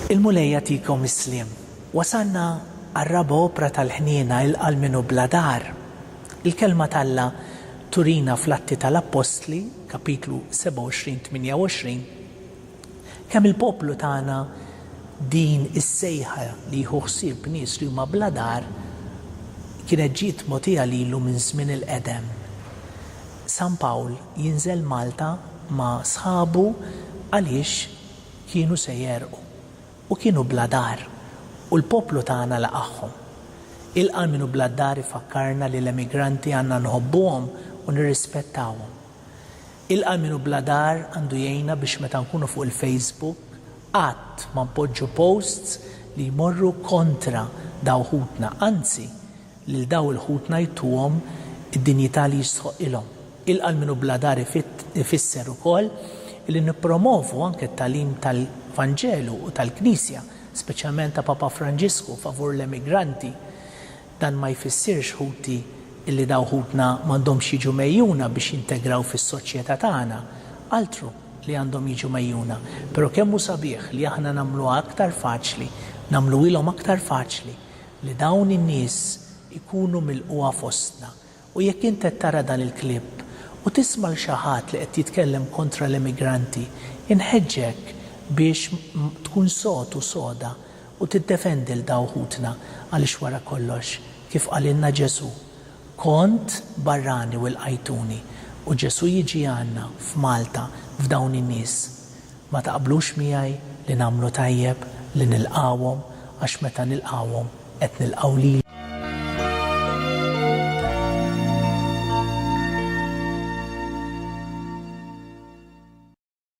Il-Mulej jagħtikom is-sliem. Wasalna għar-raba' opra tal-ħniena Ilqa' 'l Minu Bla Dar. Il-Kelma t'Alla turina fl-Atti tal-Appostli, Kapitlu 27, 28, Kemm il-poplu tana din is-sejħa li jieħu ħsieb nies li huma bla dar kienet ġiet mogħtija lilu minn żmien il-qedem. San Pawl jinżel Malta ma' sħabu għaliex kienu se jegħrqu u kienu bla dar u l-poplu tagħna laqagħhom. Ilqa' l-min hu bla d-dar ifakkarna li l-emigranti għandna nħobbuhom u nirrispettawhom. Ilqa' Min Hu Bla Dar għandu jgħinna biex meta nkunu fuq il-Facebook qatt ma npoġġu posts li jmorru kontra daw ħutna, anzi lil daw il-ħutna jtuhom id-dinjità li jistħoqqilhom. Ilqa' Min Hu Bla Dar ifisser ukoll li nippromovu anke t-tagħlim tal-Vanġelu u tal-Knisja, speċjalment ta' Papa Franġisku favur l-emigranti. Dan ma jfissirx, ħuti, illi dawn ħutna m'għandhomx jiġu megħjuna biex jintegraw fis-soċjetà tagħna. Altru li għandhom jiġu megħjuna, però kemm hu sabiħ li aħna nagħmluha aktar faċli, nagħmluhielhom aktar faċli li dawn in-nies ikunu milqugħa fostna U jekk int qed tara dan il-clip u tisma' 'l xi ħadd li qed jitkellem kontra l-emigranti, inħeġġek biex tkun sod u soda u tiddefendi 'l daw ħutna għaliex wara kollox, kif qalilna Ġesù, kont barrani u lqajtuni u Ġesù jiġi għandna f'Malta f'dawn in-nies Ma taqblux miegħi li nagħmlu tajjeb li nilqgħuhom għax meta nilqgħuhom qed nilqgħu lilhom.